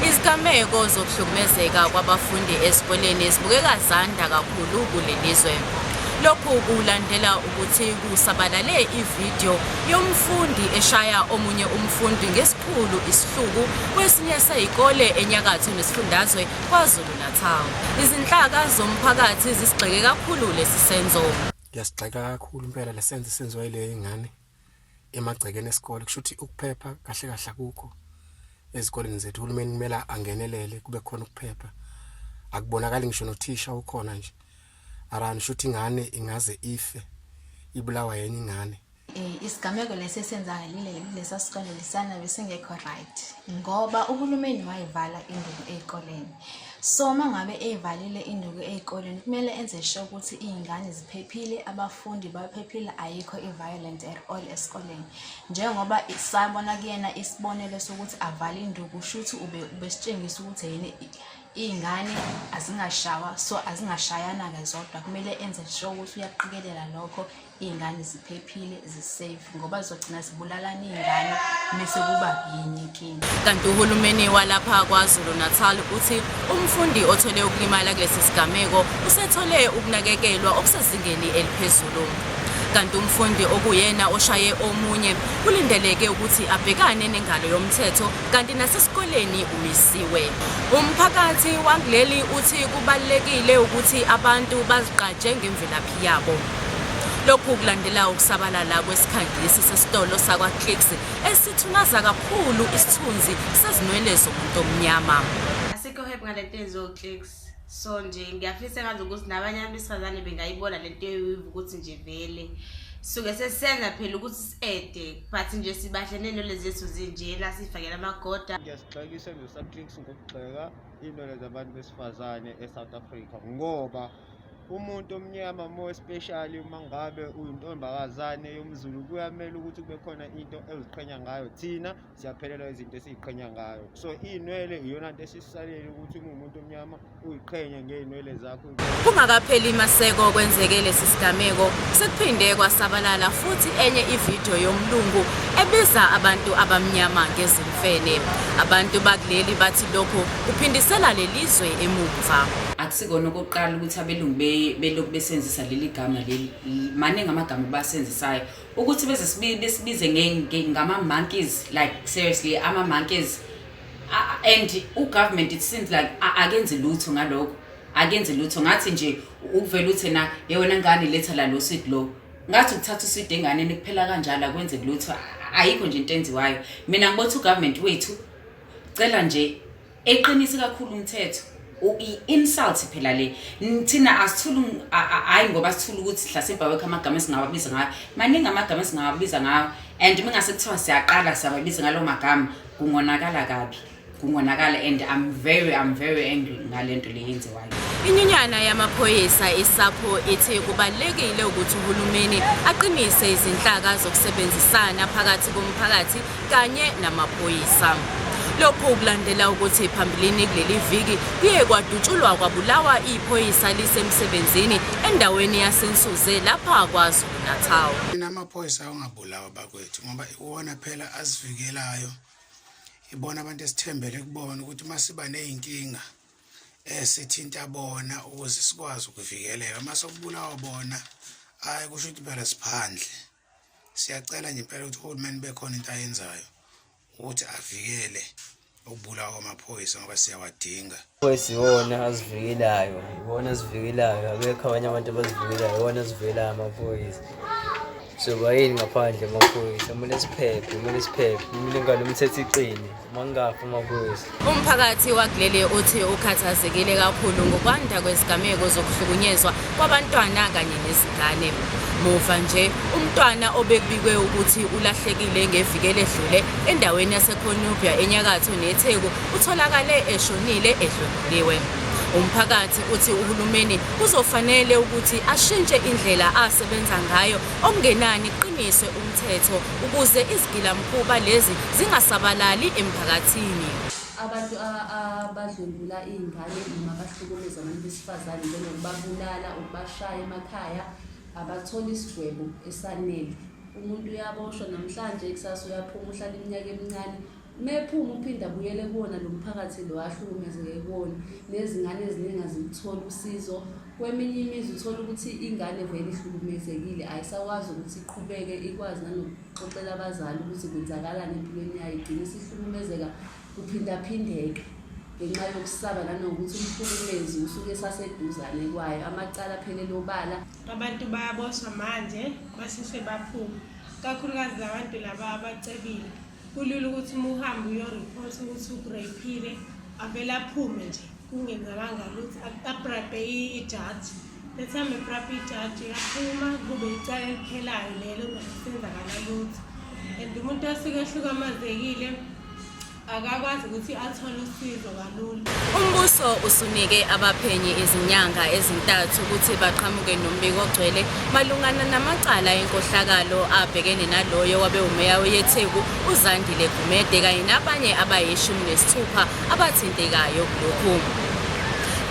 izigameko zokuhlukumezeka kwabafundi ezikoleni zibukeka zanda kakhulu kuleli zwe lokhu kulandela ukuthi kusabalale ividiyo yomfundi eshaya omunye umfundi ngesikhulu isihluku kwesinye seyikole enyakatho nesifundazwe KwaZulu-Natal. Izinhlaka zomphakathi zisigxeke kakhulu lesi senzo. Ngiyasigxeka kakhulu impela lesenzo senziwa yile ingane. emagcekeni esikole kusho ukuthi ukuphepha kahle kahle akukho ezikoleni zethu uhulumeni kumele angenelele kube khona ukuphepha akubonakali ngisho nothisha ukhona nje arani shuthi ingane ingaze ife ibulawa yenye ingane eh, isigameko lesi esenzakalile lesa sikole lisana besingekho right ngoba uhulumeni wayivala induku ezikoleni So uma ngabe eyivalile induku ey'koleni kumele enze sure ukuthi iy'ngane ziphephile, abafundi baphephile, ayikho i-violent at all esikoleni. Njengoba sabona kuyena isibonelo sokuthi avale induku shuthi ube ubesitshengisa ukuthi yini iy'ngane azingashawa so azingashayana-ke zodwa kumele enze sure ukuthi uyaqikelela lokho. iy'ngane ziphephile zisafe ngoba zizogcina zibulalana iy'ngane mese kuba yinye inkinga kanti uhulumeni walapha kwazulu natal uthi umfundi othole ukulimala kulesi sigameko usethole ukunakekelwa okusezingeni eliphezulu kanti umfundi okuyena oshaye omunye kulindeleke ukuthi abhekane nengalo yomthetho kanti nasesikoleni umisiwe umphakathi wangleli uthi kubalekile ukuthi abantu bazigqaje ngemvelaphi yabo. Lokhu kulandela ukusabalala kwesikhangisi sesitolo sakwaClicks esithunaza kakhulu isithunzi sezinwele zomuntu omnyama. Asikho happy ngale nto yenziwa uClicks. So nje ngiyafisa ngazi ukuthi nabanye abantu besifazane bengayibona le nto yoyiva ukuthi nje vele suke sesisenza phela ukuthi si-ede but nje sibahlene nole zethu zinjena siyifakela amagoda ngiyasixakisa nje uSubClicks ngokugxeka iy'nwele zabantu besifazane eSouth Africa ngoba umuntu omnyama more especially uma ngabe uyintombakazane yomzulu kuyamele ukuthi kube khona into eziqhenya ngayo thina siyaphelelwa izinto esiziqhenya ngayo so iy'nwele iyona nto esisalele ukuthi uma umuntu omnyama uyiqhenye ngey'nwele zakho kungakapheli maseko kwenzeke lesi sigameko sekuphinde kwasabalala futhi enye ividiyo yomlungu ebiza abantu abamnyama ngezimfene abantu bakuleli bathi lokhu kuphindisela lelizwe emumva sikona okokuqala ukuthi abelungu belokhu besenzisa leli gama leli maningi amagama basenzisayo ukuthi beze besibize ngama-monkeys like seriously ama-monkeys and ugovernment it seems like akenzi lutho ngalokho akenzi lutho ngathi nje ukuvela uthi na yewena ngane letha la lo sweet lo ngathi ukuthatha usweet enganeni kuphela kanjalo akwenzeki lutho ayikho nje into enziwayo mina ngibothi ugovernment wethu cela nje Eqinisi kakhulu umthetho i-insult phela le thina asithulu hhayi ngoba sithula ukuthi hlasimba wekho amagama esingawabiza ngayo maningi amagama esingawabiza ngayo and mingase kuthiwa siyaqala siyababiza ngalo magama kungonakala kabi kungonakala and i'm very i'm very angry ngale nto le yenziwayo Inyunyana yamaphoyisa iSAPO ithe kubalulekile ukuthi uhulumeni aqinise izinhlaka zokusebenzisana phakathi komphakathi kanye namaphoyisa. Lokhu kulandela ukuthi phambilini kuleli viki kuye kwadutshulwa kwabulawa iphoyisa lisemsebenzini endaweni yaseNsuze lapha KwaZulu-Natal. Thina amaphoyisa awangabulawa bakwethu ngoba iwona phela asivikelayo. Ibona abantu esithembele kubona ukuthi uma siba ney'nkinga eh sithinta bona ukuze sikwazi ukuvikeleka uma sokubulawa bona hayi kusho ukuthi phela siphandle siyacela nje impela ukuthi uhulumeni bekhona into ayenzayo ukuthi avikele ukubulawa kwamaphoyisa ngoba siyawadinga phoyisa iwona azivikelayo iwona azivikelayo abekho abanye abantu abazivikelayo iwona azivikelayo amaphoyisa Soba yini ngaphandle maphoyisa kumele siphephe kumele siphephe umlingane umthetho iqine uma kungafi maphoyisa Umphakathi wakuleli uthi ukhathazekile kakhulu ngokwanda kwezigameko zokuhlukunyezwa kwabantwana kanye nezingane. Muva nje umntwana obekubikwe ukuthi ulahlekile ngeviki eledlule endaweni yaseConubia enyakatho neTheku utholakale eshonile edlwenguliwe. Umphakathi uthi uhulumeni kuzofanele ukuthi ashintshe indlela asebenza ngayo okungenani kuqiniswe umthetho ukuze izigilamkhuba lezi zingasabalali emphakathini. Abantu abadlwengula iy'ngane noma abahlukumeza abantu besifazane njengokubabulala, ukubashaya emakhaya abatholi isigwebo esanele. Umuntu uyaboshwa namhlanje, kusasa uyaphuma uhlala iminyaka emincane. Uma ephuma uphinde abuyele kuwona lo mphakathi lo ahlukumezeke kuwona nezingane eziningi azilitholi usizo kweminye imizi uthola ukuthi ingane vele ihlukumezekile ayisakwazi ukuthi iqhubeke ikwazi nanokuxoxela abazali ukuthi kwenzakalani empilweni yayo igcine isihlukumezeka kuphindaphindeke ngenxa yokusaba nanokuthi umhlukumezi usuke esaseduzane kwayo amacala aphelele obala abantu bayaboshwa manje basheshe baphume kakhulukazi labantu laba abacebile kulula ukuthi uma uhambe uyoripotha ukuthi ukureyphile avele aphume nje kungenzakanga lutho abrabhe ijaji lethambe ebrabhe ijaji uyaphuma kube icala eliphelayo lelo nokusenzakala lutho and umuntu asuke ehlukamazekile akakwazi ukuthi athole usizo Umbuso usunike abaphenyi izinyanga ezintathu ukuthi baqhamuke nombiko ogcwele malungana namacala enkohlakalo abhekene naloyo wabe umeya weyetheku uzandile gumede kanye nabanye abayishumi nesithupha abathintekayo kulokhu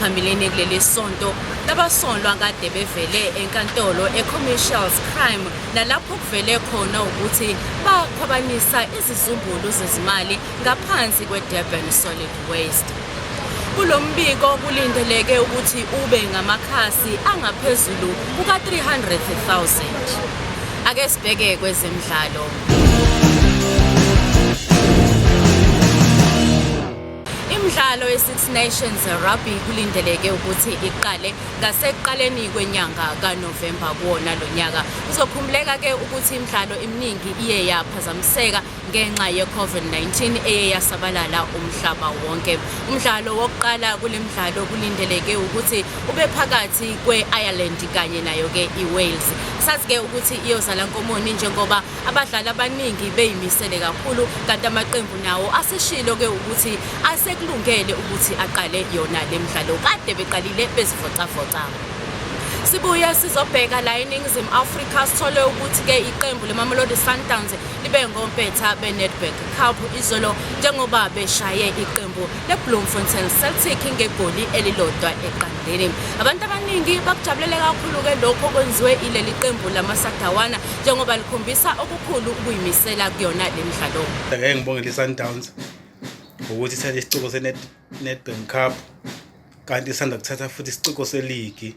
phambilini kuleli sonto labasolwa kade bevele enkantolo e-commercials crime nalapho kuvele khona ukuthi bakhwabanisa izizumbulu zezimali ngaphansi kwe-Durban Solid Waste. Kulo mbiko kulindeleke ukuthi ube ngamakhasi angaphezulu kuka-300,000. Ake sibheke kwezemidlalo. Imidlalo ye-Six Nations Rugby kulindeleke ukuthi iqale ngasekuqaleni kwenyanga kaNovemba kuwona lo nyaka. Kuzokhumbuleka-ke ukuthi imidlalo eminingi iye yaphazamiseka ngenxa ye-COVID-19 eye yasabalala umhlaba wonke. Umdlalo wokuqala kule mdlalo kulindeleke ukuthi ube phakathi kwe-Ireland kanye nayo-ke i-Wales. Sazi-ke ukuthi iyozala nkomoni njengoba abadlali abaningi beyimisele kakhulu kanti amaqembu nawo aseshilo-ke ukuthi asekulungele ukuthi aqale yona le mdlalo kade beqalile bezivocavoca sibuye sizobheka la eningizimu afrika sithole ukuthi-ke iqembu lemamelodi sundowns libe ngompetha benedbank cup izolo njengoba beshaye iqembu lebloemfontein celtic ngegoli elilodwa eqandeni abantu abaningi bakujabulele kakhulu-ke lokho kwenziwe ileli qembu lamasadawana njengoba likhombisa okukhulu ukuyimisela kuyona le mdlalo ngeke ngibongele i-sundowns ngokuthi thathe isiciko senedbank cup kanti isanda kuthatha futhi isiciko seligi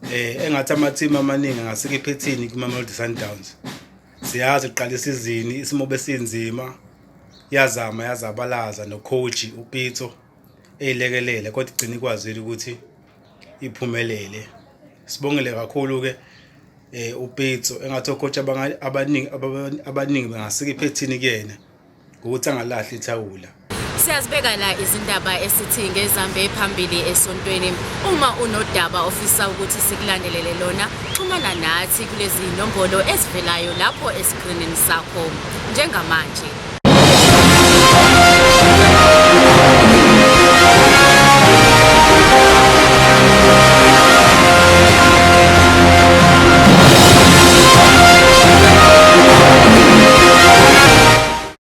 um engathi amathimu amaningi angasikiphe ethini kwimamelodi sundowns siyazi uqala isizini isimo besinzima yazama yazabalaza nocoach upitso eyilekelele kodwa igcina ikwazile ukuthi iphumelele sibongele kakhulu-ke um upitso engathi ocoach abaningi abaningi bengasike iphethini kuyena ukuthi angalahli ithawula Siyazibeka la izindaba esithi ngezambe phambili esontweni. Uma unodaba ofisa ukuthi sikulandelele lona, xhumana nathi kulezi nombolo ezivelayo lapho esikrinini sakho njengamanje.